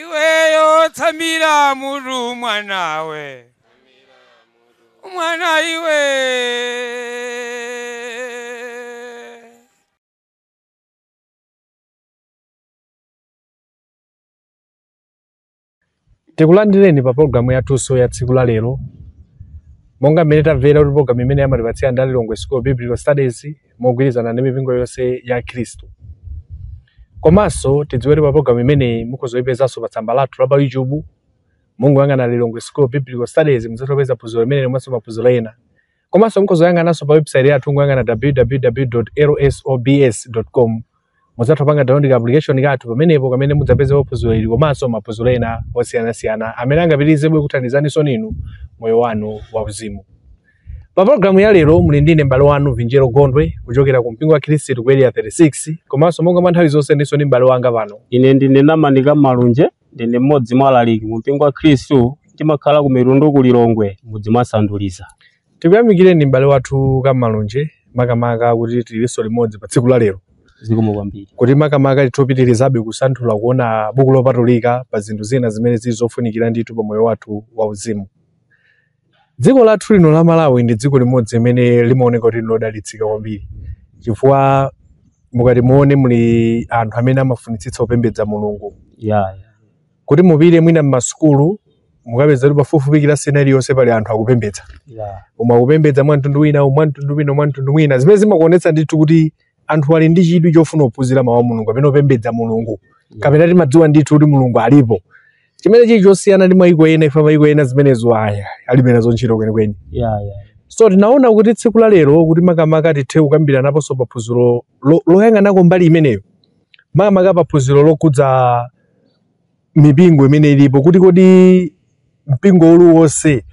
iweyo tsamira mutu mwanawe mwana iwe tikulandireni pa pologalamu yathunso ya tsiku la lero monga mmene tamvera kuti pologalamu imeneyi amatipatsira ndi a lilongwe school of biblical studies mogwirizana ndi mipingo yonse ya khristu komanso tidziwe kuti pa pologalamu imeneyi mukhozoipezanso pa tsamba lathu la pa youtube mungoyang'ana lilongwe school of biblical studies muzatopeza phunziro limeneli komanso maphunziro ena komanso mukhozoyang'ananso pa website yathu kungoyang'ana www.lsobs.com mudzatha kupanga download ka application kathu pamenepo kamene mudzapeze phunziro ili komanso maphunziro ena osiyanasiyana amene angapitirizebe kuthandizaninso inu moyo wanu wauzimu pa programu ya lero muli ndine m'bale wanu vinjero gondwe kuchokera ku mpingo wa khristu ku area 36 komanso monga mwa nthawi zonse ndinso ndi m'bale wanga pano ine ndine namani kamalunje Ndine mmodzi mwa alaliki mu mpingo wa Khristu. Ndimakhala ku Mitundu ku Lilongwe, mudzi mwa Sanduliza. Tikuyamikireni m'bale wathu Kamalunje makamaka kuti tilinso limodzi pa tsiku la lero Zikomo kwambiri. kuti makamaka titopitirizabe kusanthula kuona buku lopatulika pa zinthu zina zimene zili zofunikira ndithu pa moyo wathu wauzimu. Dziko lathu lino la Malawi ndi dziko limodzi limene limaoneka kuti nlodalitsika kwambiri chifukwa mukati muone muli anthu amene amafunitsitsa kupembedza Mulungu yeah, yeah. kuti mupite mwina m'masukulu mukapeza kuti pafupifupi kilasi ina iliyonse pali anthu akupembedza yeah. koma akupembedza mwa mtundu wina mwa mtundu wina mwa mtundu wina zimene zimakuonetsa ndithu kuti anthu ali ndi chidwi chofuna kuphunzira mawu a mulungu kapena kupembedza mulungu kapena timadziwa ndithu kuti mulungu alipo chimene chili chosiyana ndi mayiko ena ife mayiko ena zimenezo aya alibe nazo ntchito kwenikweni Yeah, yeah. so tinaona kuti tsiku la lero kuti makamaka tithe kukambiranaponso pa phunziro lo- loyang'anako mbali imeneyo makamaka pa phunziro lokhudza mipingo imene ilipo kuti kodi mpingo uliwonse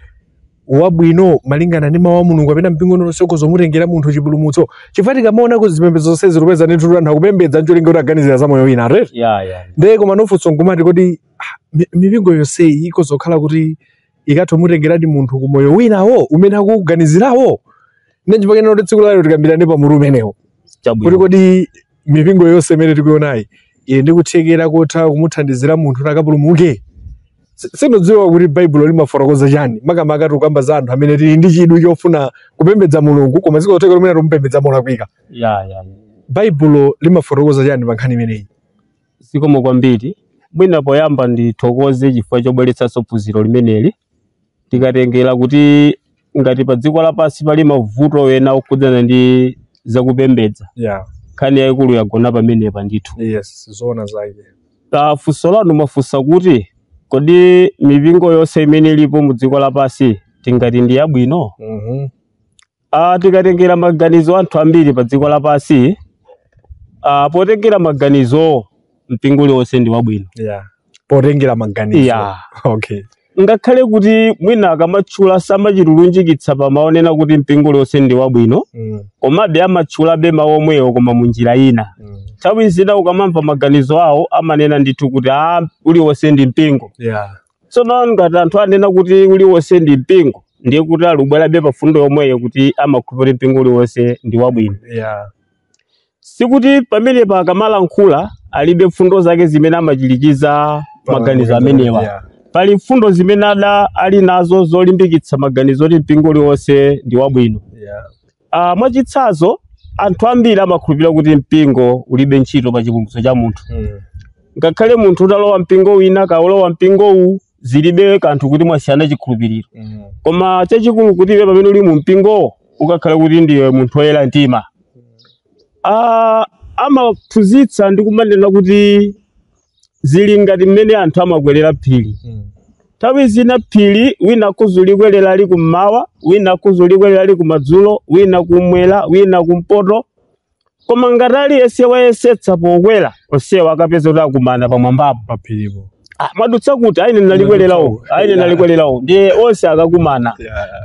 wabwino malingana ndi mawu a mulungu kapena mpingo uliwonse ukhoza kumutengera munthu chipulumutso chifukwa tikamaona kuti zipembedzo zonse tikupeza ndithu anthu akupembedza ncholinga kuti aganizira za moyo wina right? ya ya ndiye koma funso nkumati kodi ah, mi- mipingo yonseyi ikhoza kukhala kuti ikatha kumutengeradi munthu ku moyo winawo umene akuuganizirawo nde nchimene tinaona kuti tsiku la lero tikambirane pa mutu umenewo kuti chabwino kodi mipingo yonse imene tikuionayi ili ndi kuthekera kotha kumuthandizira munthu kuti akapulumuke Si- sindidziwa kuti baibulo limafotokoza chani makamaka tikukamba za anthu amene tili ndi chidwi chofuna kupembedza mulungu koma zikotheka kumene tikumupembedza molakwika ya ya ya. baibulo limafotokoza chani pa nkhani imeneyi Zikomo kwambiri. Mwina poyamba ndithokoze chifukwa chobweretsanso phunziro limeneli. Tikatengera kuti ngati pa dziko lapansi pali mavuto ena okhudzana ndi zakupembedza, Yeah. nkhani yayikulu yagona pamenepa ndithu. Yes, zoona zake. Pa funso lanu mwafunsa kuti kodi mipingo yonse imene ilipo mu dziko lapansi tingati ndi yabwino? Mhm. Ah, tikatengera maganizo a anthu ambiri pa dziko lapansi ah, potengera maganizowo mpingo uliwonse ndi wabwino yeah. potengera maganizo yeah. okay. ngakhale kuti mwina akamatchula samachita kulunjikitsa pa mawu onena kuti mpingo uliwonse ndi wabwino mm. komabe amatchulabe mawu omwewo koma mu njira ina Mm. nthawi zina ukamamva maganizo awo amanena ndithu kuti a uliwonse ndi mpingo Yeah. tsono ngati anthu anena kuti uliwonse ndi mpingo ndiye kuti ali kubwerabe pa fundo yomweyo kuti amakhulupirira kuti mpingo uliwonse ndi wabwino yeah. sikuti pamenepa akamalankhula alibe mfundo zake zimene amachirikiza maganizo amenewa yeah. pali mfundo zimene amati ali nazo zolimbikitsa maganizo oti mpingo uliwonse ndi wabwino yeah. Ah, mwachitsanzo anthu ambiri amakhulupirira kuti mpingo ulibe ntchito pa chipulumutso cha munthu Mm. ngakhale munthu utalowa mpingo wina kaya walowa mpingo uwu zilibe kanthu kuti mwasiyana chikhulupiriro Mm. koma chachikulu kuti iwe pamene uli mu mpingowo ukakhale kuti ndiwe munthu woyera mtima Ah, amaphunzitsa ndi kumanena kuti zili ngati mmene anthu amakwerera phiri Mm. nthawi zina phiri wina akhoza ulikwerera ali kummawa wina akhoza ulikwerera ali kumadzulo wina kumwera wina kumpoto koma ngati aliyense wayesetsa pokwera onsewo akapeza kuti akumana pamwambapo paphiripo Ah, amauzana kuti a ine ndinalikwerera uko a ine ndinalikwerera uko ndiye onse akakumana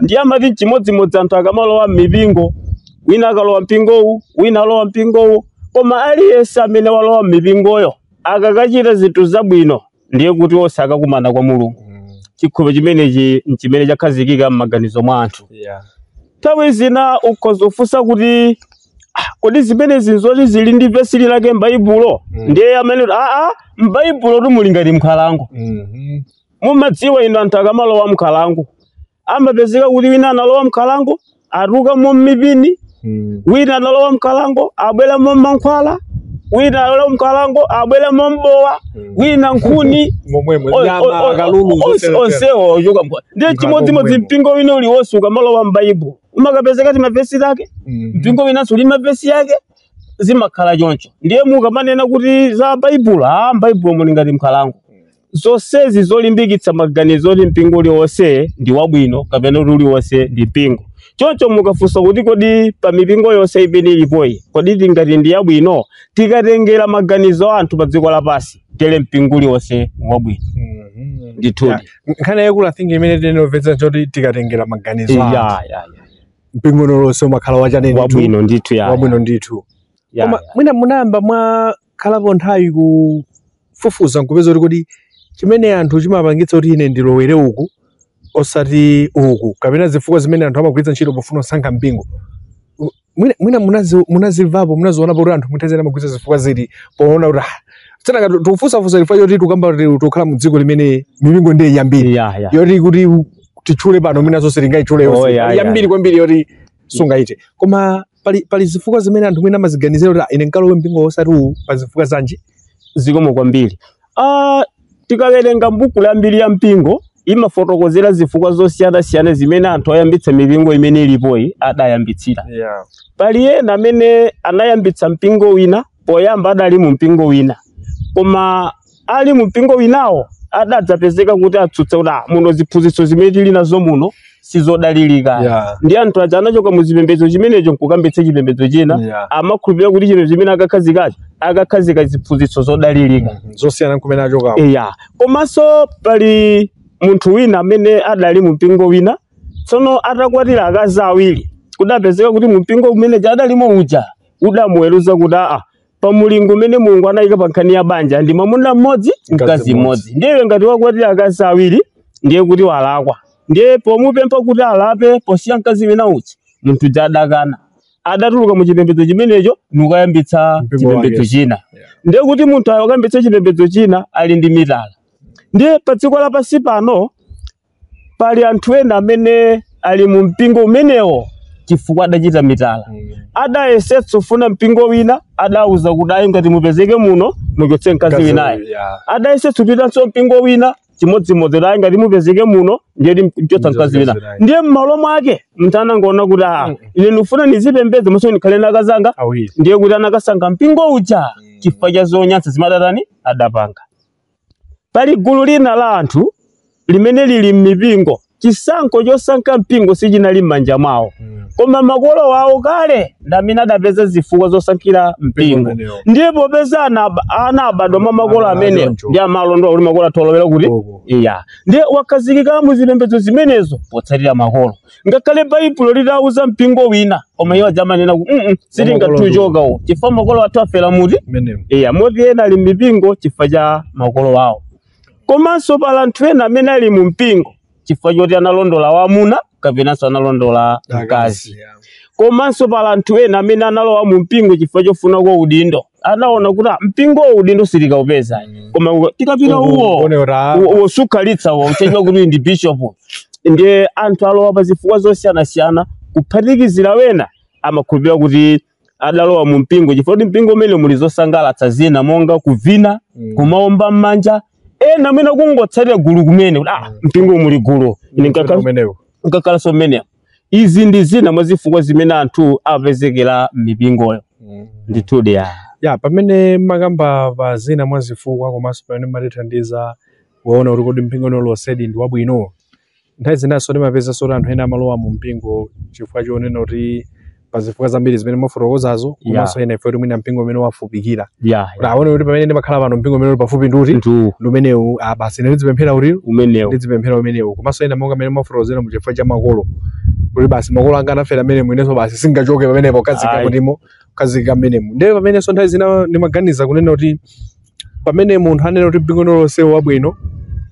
ndiye amati chimodzimodzi anthu akamalowa m'mipingo wina akalowa mpingo uwu wina alowa mpingo uwu Koma aliyense amene walowa m'mipingoyo akakachita zinthu zabwino ndiye kuti onse akakumana kwa Mulungu. Mm. Chikhulupiriro chimenechi n'chimene chakhazikika m'maganizo mwa anthu. Yeah. Nthawi zina ukhoza kufunsa kuti "Ah, kodi zimenezi nzoti zili ndi vesi lake m'Baibulo? Mm. Ndiye amanena kuti aa m'Baibulotu muli ngati m'nkhalango. Mhm. Mumadziwa inu anthu akamalowa m'nkhalango amapezeka kuti wina analowa mnkhalango atulukamo mipini Mm. wina analowa mnkhalango abweramo mankhwala wina analowa mnkhalango abweramo bowa wina nkhuni momwemo O- o- nyama o- akalulu onse- zoterotero. onsewo ochoka mnkhalango ndiye Mnkhalango chimodzimodzi momwemo. mpingo wina uliwonse ukamalowa m'baibulo umakapezeka timavesi take Mm. mpingo winanso uli ndi mavesi ake zimakhala choncho ndiye mukamanena kuti za baibulo a mbaibulo muli ngati mnkhalango zonsezi zolimbikitsa maganizo oti mpingo uliwonse ndi wabwino kapena kuti uliwonse ndi mpingo choncho mukafunsa kuti kodi pa mipingo yonse imene ilipoyi kodi tingati ndi yabwino tikatengera maganizo a anthu pa dziko lapansi tere mpingo uliwonse ngwabwino Mhm. ndithudi Yeah. nkhani yaikulu i think imene tinopeza choti tikatengera maganizo ya a ya anthu. ya mpingo uliwonse umakhala wachani wabwino ndithu ya wabwino ndithu ya, koma ya. mwina munayamba mwakhalapo nthawi ku kufufuza nkupeza kuti kodi chimene anthu chimapangitsa kuti ine ndilowere uku osati uku kapena zifukwa zimene anthu amagwiritsa ntchito pofuna kusankha mpingo U- mwina mwina munazi- munazimvapo munazionapo kuti anthu munthawi zina amagwiritsa zifukwa ziti poona kuti ah, tisanakambe tikufunsafunsa chifukwa choti tikukamba kuti tikukhala mu dziko limene mipingo ndiye yambiri ya ya yoti kuti titchule pano mwina zonse tingayitchule Oh, yonse yeah, yeah. yambiri kwambiri yoti sungaite koma pali pali zifukwa zimene anthu mwina amaziganizira kuti "Ah, ine nkalowe mpingo osati uwu pa zifukwa zanji zikomo kwambiri ah, tikawerenga mbuku la mbiri ya mpingo imafotokozera zifukwa zosiyanasiyana zimene anthu oyambitsa mipingo imene ilipoyi adayambitsira yeah. pali ena amene anayambitsa mpingo wina poyamba adali mu mpingo wina koma ali mu mpingo winawo adadzapezeka kuti atsutsa kuti "Ah, muno ziphunzitso zimene tili nazo muno sizodalirika Yeah. ndiye anthu aja anachoka mu chipembedzo chimenecho nkukayambitsa chipembedzo china Yeah. amakhulupirira kuti chipembedzo chimene akakhazikacho akakhazika ziphunzitso zodalirika zosiyana nkumene achokawo eya komanso pali munthu wina amene adali mu mpingo wina tsono atakwatira akazi awiri kudapezeka kuti mu mpingo umene adalimo uja udamuweruza kuti aa pa mulingo umene mulungu anayika pa nkhani ya banja ndi mwamuna mmodzi mkazi mmodzi ndiye iwe ngati wakwatira akazi awiri ndiye kuti walakwa ndiye pomupempha kuti alape posiya mkazi wina uja munthu uja adakana adatuluka mu chipembedzo chimenecho nkukayambitsa Mpingo chipembedzo wake. china Yeah. ndiye kuti munthu akayambitsa chipembedzo china ali ndi mitala ndiye pa dziko lapansi pano pali anthu ena amene ali mu mpingo umenewo chifukwa adachita mitala adayesetsa kufuna mpingo wina adauza kuti ayi ngati mupezeke muno muchotse mkazi Mkazi winayo uyu, yeah. adayesetsa kupitanso mpingo wina chimodzimodzi kuti ayi ngati mupezeke muno ndiye kuti muchotsa mkazi wina Mkazi winayo. ndiye m'malo mwake munthu anangoona kuti aa ine ndikufuna ndizipembedza komanso ndikhale ndi akazi anga awiri ndiye kuti anakasankha mpingo uja chifukwa cha zonyansa zimene adatani adapanga Pali gulu lina la anthu limene lili m'mipingo. Chisankho chosankha mpingo sichinali m'manja mwawo, koma makolo awo kale ndi amene adapeza zifukwa zosankhira Mpingo mpingo. umenewo. Ndiye popeza ana ab- ana abadwa mwa makolo Ana amenewo choncho. ndiye amalondola kuti makolo atolowera kuti Uko. eya ndiye akhazikika mu zipembedzo zimenezo potsatira makolo ngakhale baibulo litauza mpingo wina koma iwo adzamanena kuti mm -mm, sitingachoke uwo chifukwa makolo athu afera mmenemo. iya moti ena ali mipingo chifukwa cha makolo awo komanso pali anthu ena amene ali mu mpingo chifukwa choti analondola wamuna kapenanso analondola mkazi komanso pali anthu ena amene analowa mu mpingo chifukwa chofuna kwa udindo anaona kuti ah, mpingo uwu udindo sitikawupeza koma koma tikapita uwo Uone kuti, ah, uwo- uwo sukhalitsa, uwo uchedwa kuti ndi bishop, ndiye anthu alowa pa zifukwa zosiyanasiyana kuphatikizira wena amakhulupirira kuti adalowa mu mpingo chifukwa kuti mpingo umenewo muli zosangalatsa zina monga kuvina Mm. kumaomba m'manja ena mwina kungotsatira gulu kumene kuti ah mpingo muli gulu Ine nkakhala- umenewo nkakhalanso mmenemo izi ndi zina mwa zifukwa zimene anthu apezekera m'mipingoyo Mm. ndithudi ya ya pamene mwakamba pa zina mwa zifukwa komanso pamene mwatithandiza kuona kuti kodi mpingo uliwonsedi ndi wabwino nthawi zinanso timapezanso kuti anthu ena amalowa mu mpingo chifukwa chonena kuti pa zifukwa zambiri zimene mwafotokozazo komanso ena ifeyo mwina mpingo umene wawafupikira yeah, kuti aone kuti pamene ndimakhala pano mpingo umene uli pafupi ndi uti ndu ndi umenewu ah, basi ine ndizipemphera kuti umenewo ndizipemphera umenewu komanso ena monga mmene mwafotokozera mu chifukwa cha makolo kuti basi makolo anga anafera mmenemu inenso basi sindingachoke pamenepo kazika Ayi. kutimo kazika mmenemo ndiye pamenenso nthawi zina ndimaganiza kunena kuti pamene munthu anena kuti mpingo uliwonse wabwino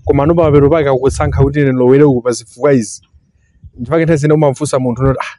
komano pamapeto pake akusankha kuti ine ndilowere uku pa zifukwa izi ndipake nthawi zina umamfunsa munthu unoti ah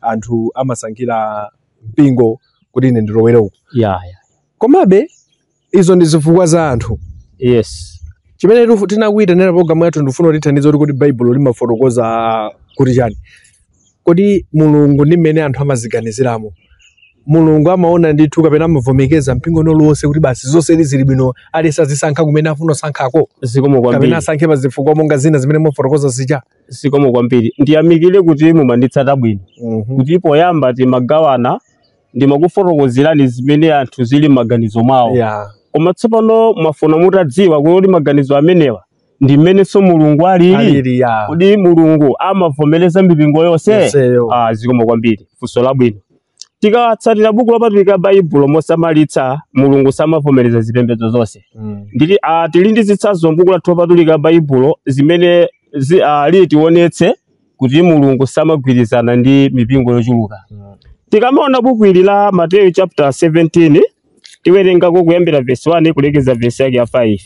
anthu amasankhira mpingo kuti ine ndilowere uku yeah, yeah. komabe izo ndi zifukwa za anthu yes chimene tifu- tinakuyitanira programu yathu ndifuna mutithandize kuti kuti baibulo limafotokoza kuti chani kodi mulungu ndi mmene anthu amaziganiziramo mulungu amaona ndithu kapena amavomereza mpingo uliwonse kuti basi zonse zili bwino aliyense azisankha kumene afuna kusankhako zikomo kwambiri kapena asankhe pa zifukwa monga zina zimene mwafotokoza zija zikomo kwambiri ndiyamikire kuti mumanditsata bwino Mhm. kuti poyamba timagawana ndimakufotokozerani zimene anthu zili m'maganizo mwawo Yeah. koma tsopano mwafuna mutadziwa kuti maganizo amenewa ndi mmenenso mulungu alili Alili, yeah. kodi mulungu amavomereza mipingo yonse Yonseyo. Ah, zikomo kwambiri funso labwino tikatsatira buku lopatulika baibulo mosamalitsa mulungu samavomereza zipembedzo zonse Mm. ndili ah, tili ndi zitsanzo mbuku lathu lopatulika baibulo zimene zi, ah, litionetse kuti mulungu samagwirizana ndi mipingo yochuluka Mm. tikamaona buku ili la mateyu chapter 17 tiwerengako kuyambira vesi 1 kulekeza vesi yake ya 5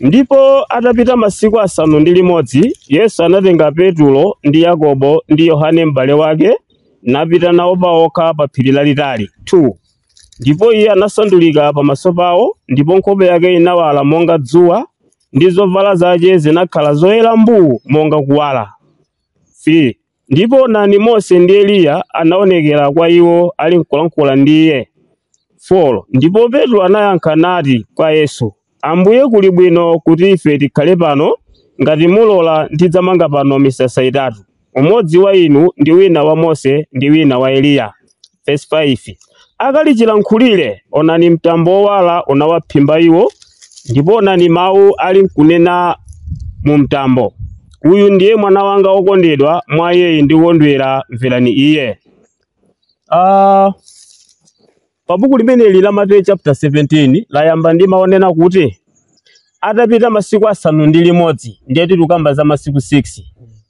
ndipo atapita masiku asanu ndi limodzi yesu anatenga petulo ndi yakobo ndi yohane m'bale wake napita nawo paokha pa phiri lalitali 2 ndipo iye anasandulika pamaso pawo ndipo nkhope yake inawala monga dzuwa ndi zovala zake zinakhala zoyera mbuu monga kuwala 3 Ndipo onani, Mose ndi Eliya anaonekera kwa iwo ali nkulankhula ndi iye. 4 ndipo Petro anayankha nati kwa Yesu, Ambuye, kuli bwino kuti ife tikhale pano. Ngati mulola, ndidzamanga pano misasa itatu, umodzi wa inu, ndi wina wa Mose, ndi wina wa Eliya. Verse 5 akali chilankhulire onani mtambo wowala unawaphimba iwo ndipo onani mawu ali nkunena mu mtambo uyu ndiye mwana wanga wokondedwa mwa iyeyi ndikondwera mverani iye Ah, pa buku limeneli la mateyu chapter 17 layamba ndi mawu onena kuti atapita masiku asanu ndi limodzi ndiye tikukamba za masiku 6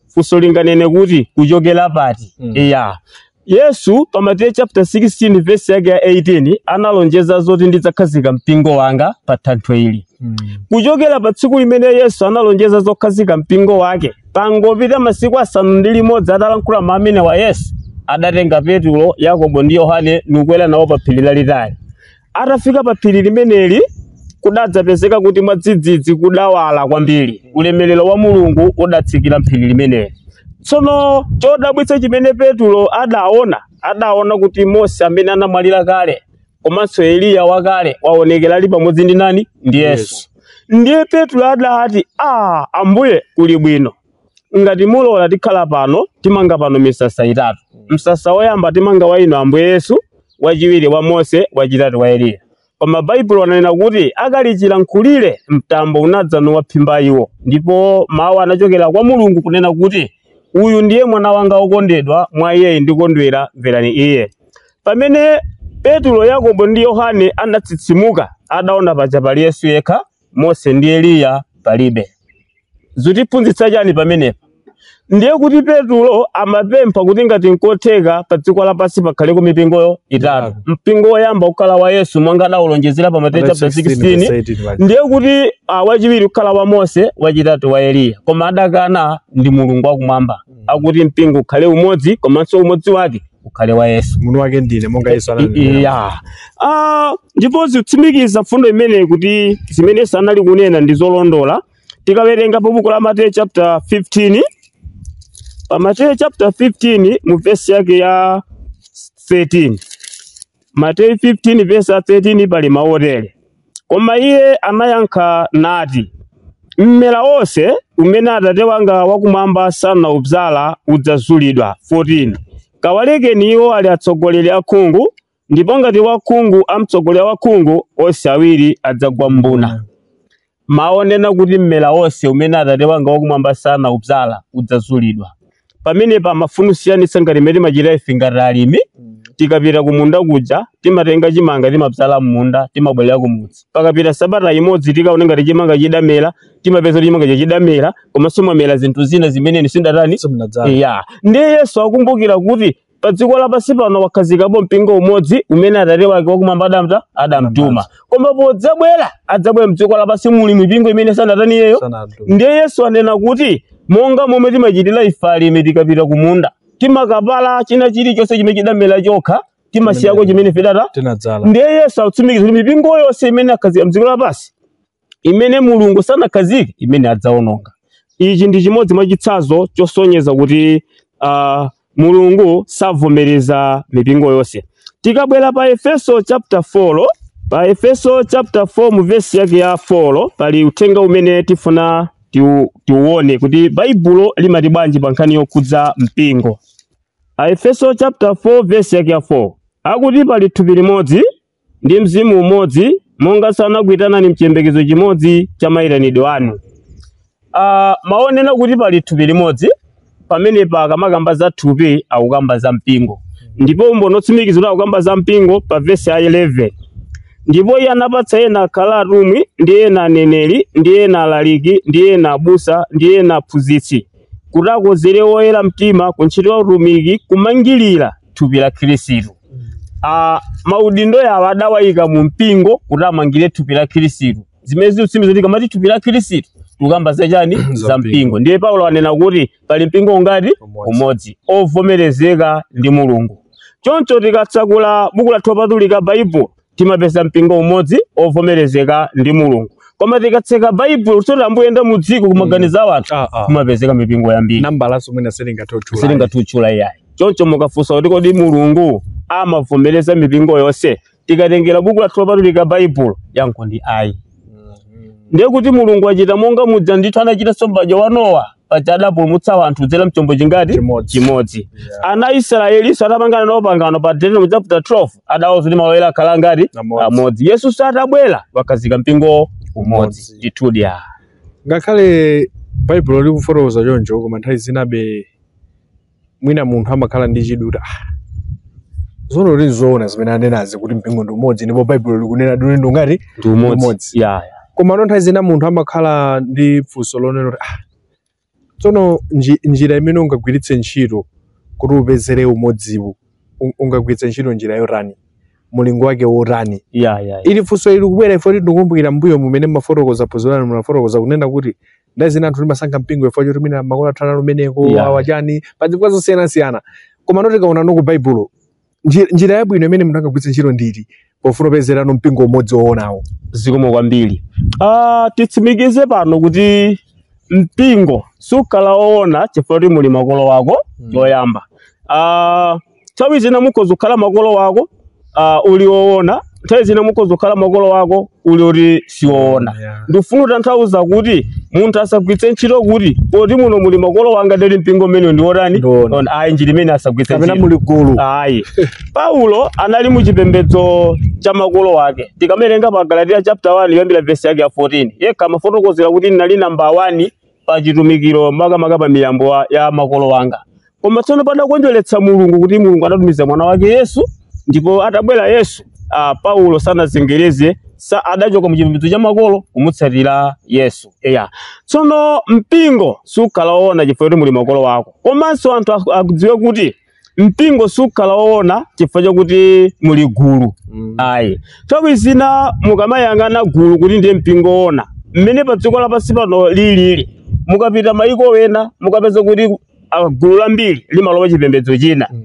funso linganene kuti kuchokera pati Mm. eya yesu pa mateyu chapter 16 verse yake ya 18 analonjeza zoti ndidzakhazika mpingo wanga pa thanthwe ili Mm. kuchokera pa tsiku limene yesu analonjeza zokhazika mpingo wake pangopita masiku asanu ndi limodzi atalankhula mawu amenewa yesu adatenga petulo yakobo ndi yohane nukwera nawo pa phiri lalitali Atafika pa phiri limeneli kudadzapezeka kuti mwadzidzidzi kudawala kwambiri, ulemerero wa Mulungu udatsikira m'phiri limeneli. Tsono chodabwitsa chimene Petulo adaona, adaona kuti Mose amene anamwalira kale komanso Eliya wakale waonekera ali pamodzi ndi nani? Ndi Yesu. Ndiye Petulo adati, a Ambuye kuli bwino, ngati mulola tikhala pano timanga pano misasa itatu msasa woyamba timanga wa inu ambuye yesu wachiwiri wa mose wachitatu wa eliya koma baibulo ananena kuti akali chilankhulire mtambo unadza nuwaphimba iwo ndipo mawu anachokera kwa mulungu kunena kuti uyu ndiye mwana wanga wokondedwa mwa iyeyi ndikondwera mverani iye pamene petulo yakobo ndi yohane anatsitsimuka adaona paja pali yesu yekha Mose ndi Eliya palibe. Zutiphunzitsa chani pamenepa? Ndiye kuti Petulo amapempha kuti ngati nkotheka pa dziko lapansi pakhaleko mipingo itatu. Itatu. Mpingo woyamba ukhala wa Yesu monga adawulonjezera pa Mateyu chapter 16 ndiye kuti ah, wachiwiri ukhala wa Mose, wachitatu wa Eliya. Koma adakana ndi Mulungu wakumwamba. Akuti mpingo ukhale umodzi komanso umodzi wake ukhale wa yesu Umunthu wake ndine monga Yesu ananena. ya Ah, ndipo zikutsimikiza mfundo imeneyi kuti zimene yesu sanali kunena ndi zolondola tikawerenga pa buku la mateyu chapter 15 pa mateyu chapter 15 mu vesi yake ya 13 mateyu 15 vesi ya 13 pali mawu otere Koma iye anayankha nati, Mmera wonse umene Atate wanga wakumwamba sanaubzala udzazulidwa. 14 Kawalekeni iwo, ali atsogoleri akhungu, ndipo ngati wakhungu amtsogolera wakhungu, onse awiri adzagwa m'mbuna. Mawu onena kuti mmera wonse umene Atate wanga wakumwamba sanaubzala udzazulidwa, pamenepa amafuna kusiyanitsa ngati mmene timachita ife ngati alimi tikapita kumunda kuja timatenga chimanga timabzala m'munda timabwerera kumudzi pakapita sabata imodzi tikaone ngati chimanga chidamera timapeza kuti chimanga chidamera komanso mwamera zinthu zina zimene sindatani ya ndiye yesu akumbukira kuti pa dziko lapansi pano wakhazikapo mpingo umodzi umene atate wake wakumwamba adamta adamtuma koma podzabwera adzabwera mdziko lapansi muli mipingo imene sanatani iyeyo ndiye yesu anena kuti monga momwe timachitira ife alimi tikapita kumunda timakapala china chilichonse chimene chidamera chokha timasiyako chimene ife tidatani tinadzala ndiye yesu atsimikiza kuti mipingo yonse imene akhazika mdziko lapansi imene Mulungu sanakhazike imene adzaononga. Ichi ndi chimodzi mwa chitsanzo chosonyeza kuti uh, Mulungu savomereza mipingo yonse. Tikabwera pa Efeso chapter 4 pa Efeso chapter 4 mu verse yake ya 4 pali uthenga umene tifuna tiuone kuti Baibulo limati bwanji pa nkhani yokhudza mpingo. Aefeso chapter 4 verse yake ya 4 akuti pali thupi limodzi ndi mzimu umodzi monga sanakuitanani mchiyembekezo chimodzi cha mayitanidwe anu Ah, mawu onena kuti pali thupi limodzi pamenepa akamakamba za thupi akukamba za mpingo ndipo umboni otsimikiza kuti akukamba za mpingo pa vesi ya 11 ndipo iye anapatsa ena akhala atumwi ndi ena aneneri ndi ena alaliki ndi ena abusa ndi ena aphunzitsi kuti akonzere oyera mtima ku ntchito ya utumiki kumangirira thupi la khristu Ah, maudindo awa adawayika mu mpingo kuti amangire thupi la khristu zimene zikutsimikiza kuti akamati thupi la khristu tikukamba za chani za mpingo ndiye paulo anena kuti pali mpingo ungati umodzi ovomerezeka ndi mulungu choncho tikatsakula buku lathu lopatulika baibulo timapeza mpingo umodzi ovomerezeka ndi mulungu koma tikatseka baibulo kuti tambuyenda mu dziko kumaganiza wanthu Ah, ah. kumapezeka mipingo yambiri nambalanso mwina silingatotchula silingatutchula iyayi choncho mukafunsa kuti kodi mulungu amavomereza mipingo yonse tikatengera buku lathu lopatulika baibulo yankho ndi ayi ndiye kuti mulungu achita monga muja ndithu anachita sombaja wa nowa paja adapulumutsa wanthu kudzera mchombo chingati Chimodzi. chimodzi ana israelinso atapangana nawo pangano pa deuteronomy chapter 12 adawauza kuti malo oyera akhala angati Amodzi. amodzi yesu satabwera wakhazika mpingo umodzi Umodzi. ndithudi ah. ngakhale baibulo likufotokoza choncho koma nthawi zinabe mwina munthu amakhala ndi chidwi kuti "Ah, tsono kuti nzoona zimene anenazi kuti mpingo ndi umodzi ndipo baibulo likunena kuti ndi ungati ndi umodzi Umodzi. ya ya. komano nthawi zina munthu amakhala ndi funso lonena kuti "Ah, Tsono nji, njira imene ungagwiritse ntchito kuti upezere umodziwu un- ungagwiritse ntchito njira yotani mulingo wake wotani ya ya ya. ili funso ili kubwera chifoti ndikukumbukira mbuyo mmene mumafotokoza phunziro lanu munafotokoza kunena kuti nthawi zina anthu timasankha mpingo chifo choti mwina makolo athu anali kumeneko Yeah. awa chani pa zifukwa zosiyanasiyana komano tikaonano ku baibulo Njira, njira yabwino imene munthu angagwiritse ntchito ndi iti pofuna kupezerano mpingo umodzi woonawo? zikomo kwambiri ah, titsimikize pano kuti mpingo sukhala woona chifukwa kuti muli makolo wako choyamba ah, nthawi zina mukhoza kukhala makolo wako ah, uli woona nthawi zina mukhoza kukhala makolo wako uli oti siwoona Yeah. ndifuna kutanthauza kuti munthu asagwiritse ntchito kuti poti muno muli makolo wanga ndiye mpingo umene ndiwotani Ndiwoona. Ona, ayi njira imene asagwiritse kapena ntchito muli gulu ayi paulo anali mu chipembedzo cha makolo wake tikamawerenga pa galatiya chapter 1 kuyambira vesi yake ya 14 yekha amafotokozera kuti ndinali namba 1 pa chitumikiro makamaka pa miyambo wa- ya makolo anga koma tsono padakondweretsa mulungu kuti mulungu adatumiza mwana wake yesu ndipo atabwera yesu ah, paulo sanazengereze sa adachoka mu chipembedzo cha makolo kumutsatira yesu eya tsono mpingo sukhala woona chifukwa kuti muli makolo wako komanso anthu aku- akudziwe kuti mpingo sukhala woona chifukwa chakuti muli gulu Mm. ayi nthawi zina mukamayang'ana gulu kuti ndiye mpingo woona mmene pa dziko lapansi pano lilili mukapita mayiko wena mukapeza kuti ah, gulu lambiri limalowa chipembedzo china Mm.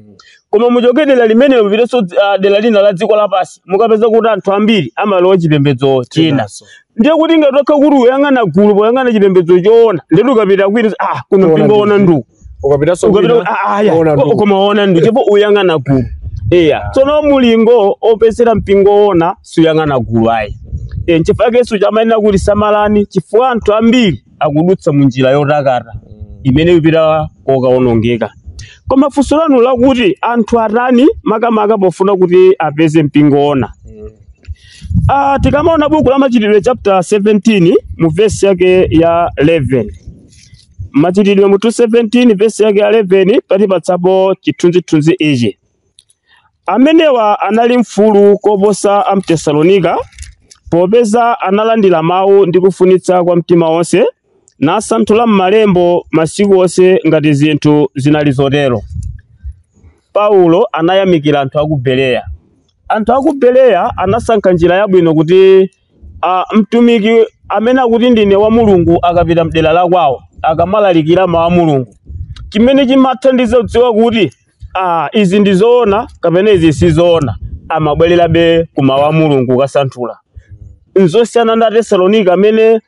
koma muchoke dera limenelo mupitenso ah, dera lina la dziko lapansi mukapeza kuti anthu ambiri amalowa chipembedzo china Chinanso. ndiye kuti ngati wakha kuti uyang'ana gulu poyang'ana chipembedzo choona ndiye ukapita kwina ah kuno Choona mpingo ndi- woona ndi uku ukapitanso ukapita kwina, ah, ah, ya. uona ndugu. koma waona ndu ndipo uyang'ana gulu eya tsono mulingo opezera mpingo woona suyang'ana gulu ayi e, nchifukwa yesu chamanenera kuti samalani chifukwa anthu ambiri akudutsa mu njira yotakata imene ipita kokaonongeka koma funso lanu lakuti anthu atani makamaka pofuna kuti apeze mpingo woona Ah, tikamaona buku la machitidwe chapter 17 mu vesi yake ya 11 Machitidwe mutu 17 vesi yake ya 11 pakutipatsapo chithunzithunzi ichi. Amenewa anali mfulu koposa a m'Tesalonika, popeza analandira mawu ndi kufunitsa kwa mtima wonse, nasanthula m'malembo masiku onse ngati zinthu zinali zotero. Paulo anayamikira anthu a ku Bereya. Anthu a ku Bereya anasankha njira yabwino kuti a Mtumiki amene akuti ndine wa Mulungu akapita m'dera la kwawo akamalalikira mawu a Mulungu, chimene chimathandiza kudziwa kuti a izi ndi zoona kapena izi si zoona, amabwererabe ku mawu a Mulungu kukasanthula. N'zosiyana ndi Atesalonika amene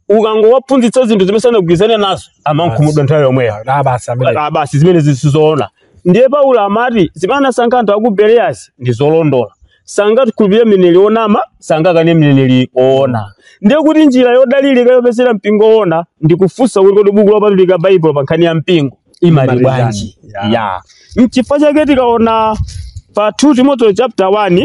ukangowaphunzitsa zinthu zimene sanagwirizane nazo amakhumudwa nthawi yomweyo Ah, basi amene Ah, basi zimenezi si zoona ndiye paulo amati zimene anasankha anthu a ku bereyazi ndi zolondola sangakhulupirire mneneri onama sangakane mneneri oona ndiye kuti njira yodalirika yopezera mpingo oona ndi kufunsa kuti kodi buku lopatulika baibulo pa nkhani ya mpingo imati Imati bwanji chani? ya mchifukwa chake tikaona pa 2 timoteo chapter 1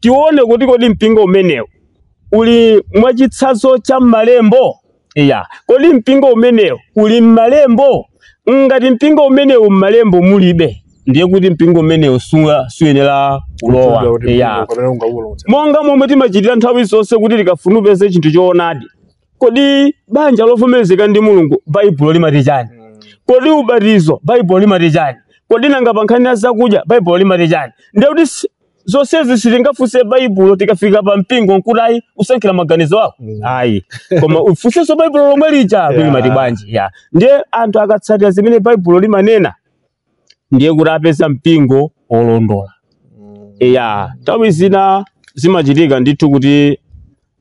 tione kuti kodi mpingo umenewu uli mwachitsanzo cha m'malembo iya kodi mpingo umenewu uli m'malembo ngati mpingo umenewu m'malembo mulibe ndiye kuti mpingo umenewu suwa- suyenera kulowa iya kapena ungawulonse monga momwe timachitira nthawi zonse kuti tikafuna kupeza chinthu choonadi kodi banja lovomerezeka ndi mulungu baibulo limati chani kodi ubatizo baibulo limati chani kodi nanga pa nkhani ya zakudya baibulo limati chani ndiye kuti si- zonsezi sitingafunse baibulo tikafika pa mpingo nkuti ayi usankhire maganizo ako Mm. ayi koma ufunsenso baibulo lomwe lija Yeah. kuti limati bwanji ya ndiye anthu akatsatira zimene baibulo limanena ndiye kuti apeza mpingo wolondola ya nthawi zina zimachitika ndithu kuti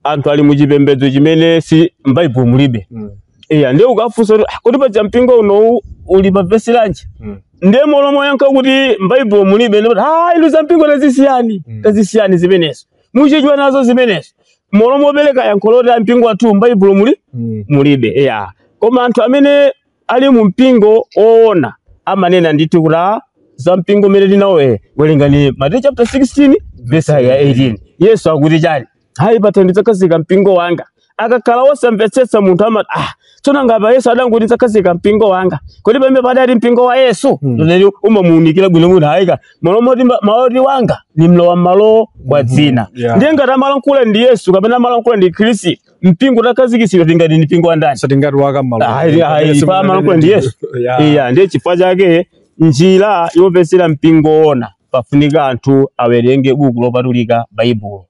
anthu ali mu chipembedzo chimene si m'baibulo mulibe Mm. iya ndiye ukafunsa kuti "Ah, kuti paja mpingo unowu uli pa vesi lanji Mm. ndiye m'malo moyankha kuti m'baibulo mulibe ndipo ah inu za mpingo tazisiyani Mm. tazisiyani zimenezo muchedwa nazo zimenezo m'malo mopereka yankho loti a mpingo wathu m'baibulo muli Mm. mulibe iya koma anthu amene ali mu mpingo woona amanena ndithu kuti "Ah, za mpingo umene tinawoye werengani mateyu chapter 16 verse ya 18 yesu akuti chani hayi pathanthwe ndidzakhazika mpingo wanga akakhala wosamvetsetsa munthu amati ah tsono ngati yesu adangoti ndidzakhazika mpingo wanga kodi pamene padali mpingo wa yesu mm. umamuunikira bwino kuti hayika malo moti ma- mawu oti wanga ni mlowa mmalo wa dzina Yeah. ndiye ngati amalankhula ndi yesu kapena amalankhula ndi khristu mpingo utakhazikitsidwa tingati ni mpingo wa ndani sitingati waka Ayi, ayi, pa amalankhula ndi Yesu. iya ndiye chifukwa chake njira yopezera mpingo woona pafunika anthu awerenge buku lopatulika baibulo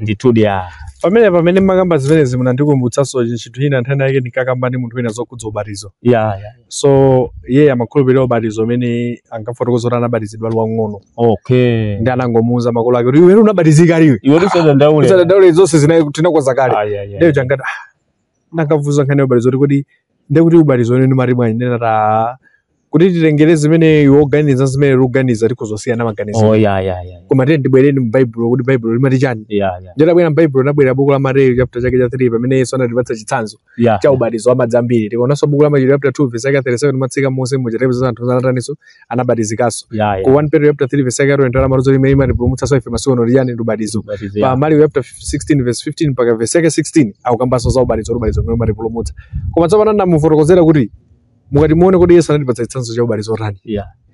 ndithudi ya pamene pamene mmakamba zimenezi munandikumbutsanso chinthu china nthawi inayake ndinkakamba ndi munthu wina zokhudza ubatizo ya ya so iye amakhulupirira ubatizo umene ankafotokoza kuti anabatizidwa ali wang'ono okay ndiye anangomuuza makolo ake kuti iwe unabatizika kale iwe usadandaule usadandaule zonse zinazi tinakonza kale Ai, ai, ai. lero changati ndakavuza nkhani ya ubatizo kuti kodi ndekuti ubatizo umene ndimati bwanji ndinati kuti titengere zimene iwe ukuganiza zimene ndikuganiza tikhoza kusiyana maganizo oh ya ya ya koma tiyeni tibwere mu baibulo kuti baibulo limati chani ya ya nditabwera mbaibulo nabwera buku la mateyu chapter chake cha 3 pamene yesu anatipatsa chitsanzo yeah. cha ubatizo wa madzi ambiri tikaonanso buku la machitidwe chapter 2 verse yake 37 matsika monse muja tipeza anthu anataninso anabatizikanso yeah, yeah. ku 1 Peter chapter 3 verse yake 20 la maluzo limene limatipulumutsanso ife masiku ano nchiyani ndi ubatizo Ubatizo, pa yeah. Marko chapter 16 verse 15 mpaka verse yake 16 akukambanso za ubatizo ubatizo umene umatipulumutsa koma tsopano ndamufotokozera kuti mukati muone kuti yesu anatipatsa chitsanzo cha ubatizo wotani Yeah.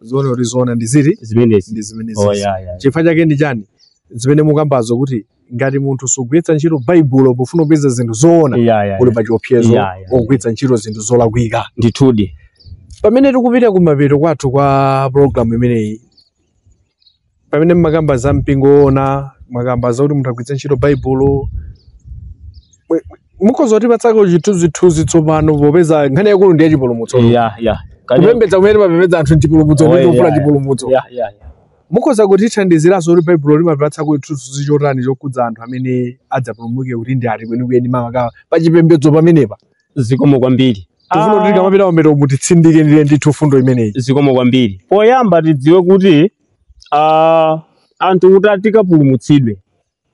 zoona kuti zoona ndi ziti zimenezi ndi zimene Oh, ziti. yeah, yeah. chifukwa chake ndi chani zimene mukambazo kuti ngati munthu sugwiritsa ntchito baibulo pofuna kupeza zinthu zoona Yeah, yeah, yeah. uli pa chiopsezo Yeah, yeah, yeah. ogwiritsa ntchito zinthu zolakwika ndithudi pamene tikupita kumapeto kwathu kwa programu imeneyi pamene mmakamba za mpingo woona mwakamba zakuti munthu agwiritse ntchito baibulo Mwe- mukhoza kutipatsako chithunzithunzi tsopano popeza nkhani yaikulu ndi yachipulumutso ya ya Kani- kupembedza kumene timapembedza anthu nchipulumutso Oye, ndi kufuna ya, chipulumutso ya ya ya mukhoza kutithandiziranso kuti baibulo limapatsako chithunzithunzi chotani chokhudza anthu amene adzapulumuke kuti ndi ati kwenikweni maka pachipembedzo pamenepa zikomo kwambiri tifuna kuti Ah. tikamapita kumapeto mutitsindikire ndithu mfundo imeneyi zikomo kwambiri poyamba tidziwe kuti ah, anthu kuti ah tikapulumutsidwe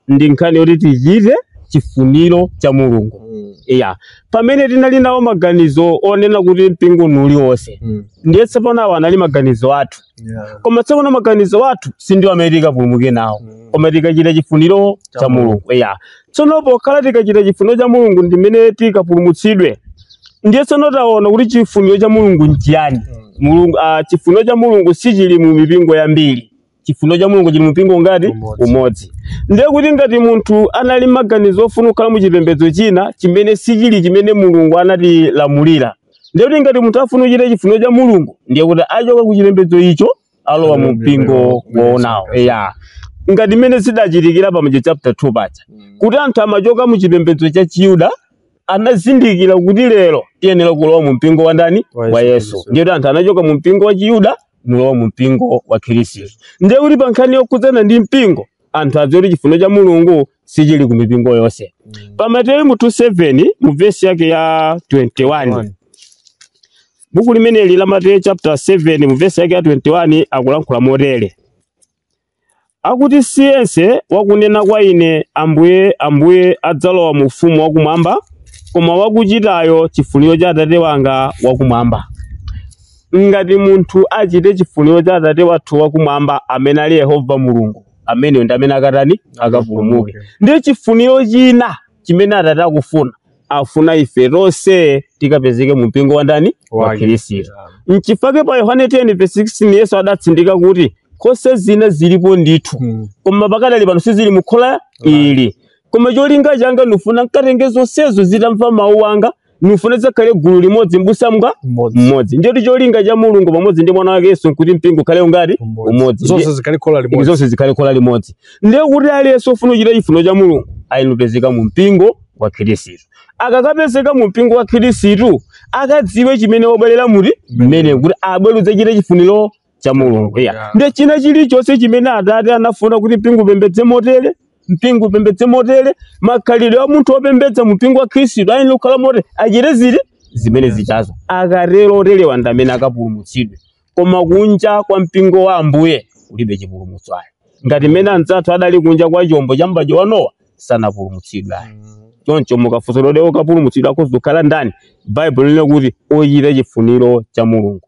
ndi nkhani yoti tichite chifuniro cha mulungu iya pamene tinali nawo maganizo onena kuti mpingo ndi uliwonse ndiye tsopano awa anali maganizo athu Yeah. koma tsopano maganizo athu sindiwo amene tikapulumuke nawo Mm. koma tikachita chifuniro Cha cha Mulungu. mulungu ya tsono pokhala tikachita chifuniro cha mulungu ndimene tikapulumutsidwe ndiye tsono taona kuti chifuniro cha mulungu nchiyani mulungu ah, chifuniro cha mulungu sichili mu mipingo yambiri chifuniro cha mulungu chili mu mpingo ngati Umodzi. umodzi ndiye kuti ngati munthu anali maganizo ofuna kukhala mu chipembedzo china chimene sichili chimene mulungu anatilamulira ndiye kuti ngati munthu afuna kuchita chifuniro cha mulungu ndiye kuti achoka ku chipembedzo icho alowa mu mpingo woonawo eya ngati mmene zidachitikira pa mateyu chapter 2 paja kuti anthu amachoka mu chipembedzo cha chiyuda anazindikira kuti lero tiyenera kulowa mu mpingo wa ndani Wa wa Yesu yesu Kristu. ndiye kuti anthu anachoka mu mpingo wa chiyuda n'kulowa mu mpingo wa khristu ndiye kuti pa nkhani yokhudzana ndi mpingo anthu adziwe kuti chifuniro cha mulungu sichili ku mipingo yonse pa mateyu mutu 7 mu vesi yake ya 21 buku limeneli la mateyu chapter 7 mu vesi yake ya 21 akulankhula motere akuti siyense wakunena kwa ine ambuye ambuye adzalowa mu ufumu wakumwamba koma wakuchitayo chifuniro cha atate wanga wakumwamba ngati munthu achite chifuniro cha atate wathu wakumwamba amene ali yehova mulungu ameneyo ndi amene akatani akapulumuke ndiye chifuniro china chimene atate akufuna afuna ife tonse tikapezeke mu mpingo wa ndani wa khristu mchifake pa yohane 10 verse 16 yesu adatsindika kuti nkhosa zina zilipo ndithu Mm. koma pakadali pano sizili mukhola ili koma cholinga changa ndifuna nkatenge zonsezo zidzamva mawu anga ndifuna zidzakhale gulu limodzi mbusa mngati Mmodzi. mmodzi ndiyetu cholinga cha mulungu pamodzi ndi mwana wake yesu nkuti mpingo ukhale ungati Mmodzi. umodzi Zonse Ndiye- zikhale khola limodzi. zonse zikhale khola limodzi ndiye kuti aliyense ofuna kuchita chifuniro cha mulungu ayenera kupezeka mu mpingo wa khristu akakapezeka mu mpingo wa khristu akadziwe chimene wabwerera muti mmene kuti abwere kudzachita chifuniro cha mulungu ya Yeah. ndiye china chilichonse chimene atate anafuna kuti mpingo upembedze motere mpingo upembedze motere makhalidwe a munthu opembedza mu mpingo wa khristu ayenera kukhala motere achite ziti zimene zichazo akatero oterewa ndi amene akapulumutsidwe koma kunja kwa mpingo wa ambuye kulibe chipulumutso ayi ngati mmene anzathu adali kunja kwa chombo cha m'badwo wa nowa sanapulumutsidwe ayi choncho mukafunsa kuti okapulumutsidwa akhoza kukhala ndani baibulo linena kuti ochita chifuniro cha mulungu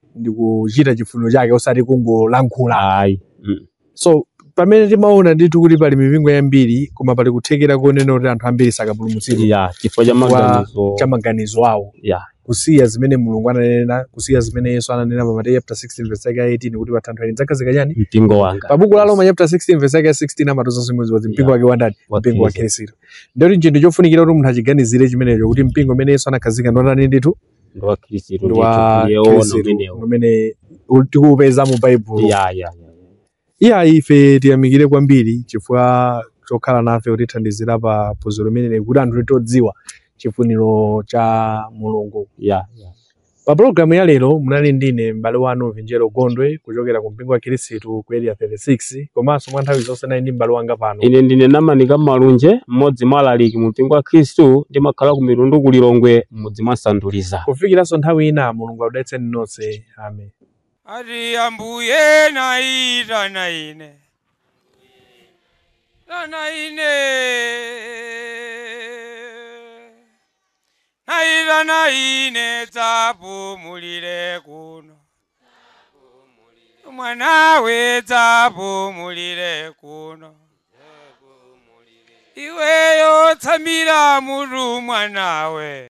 ndi kuchita chifuniro chake osati kungolankhula ayi Mm. so pamene timaona ndithu kuti pali mipingo yambiri koma pali kuthekera konena kuti anthu ambiri sakapulumutsidwa ya chifukwa cha Wa- maganizo cha maganizo awo ya kusiya zimene mulungu ananena kusiya zimene yesu ananena pa mateyu chapter 16 verse yake ya 18 kuti pathanthwe ili ndidzakhazika chani mpingo wanga pa buku la roma chapter 16 verse yake ya 16 amatoza zimodzi kuti mpingo wake wandani Wa mpingo wa Khristu. khristu ndiye kuti chinthu chofunikira kuti munthu achiganizire chimenecho kuti mpingo umene yesu anakhazika ndi wandani ndithu ndi wa khristu ndi wa khristu ndithu ndiye woona umenewo umene tikuupeza mu baibulo ya ya ya iya ife tiyamikire kwambiri chifukwa chokhala nafe kutithandizira pa phunziro limeneli kuti anthu atadziwa chifuniro cha mulungu ya ya pa pologalamu ya lero munali ndine m'bale wanu vinjero gondwe kuchokera ku mpingo wa khristu ku area 36 Mphesi komanso mwa nthawi zonse nali ndi m'bale wanga pano. Ine ndine Namanika Malunje, mmodzi mwa alaliki mu mpingo wa Khristu, ndimakhala ku Mitundu ku Lilongwe, m'mudzi mwa Sanduliza. Kufikiranso nthawi ina, Mulungu akudalitseni nonse. Amen. Ati ambuye naitana ine tana ine naitana ine dzapumulire kuno mwanawe dzapumulire kuno iweyo tsamira mutu mwanawe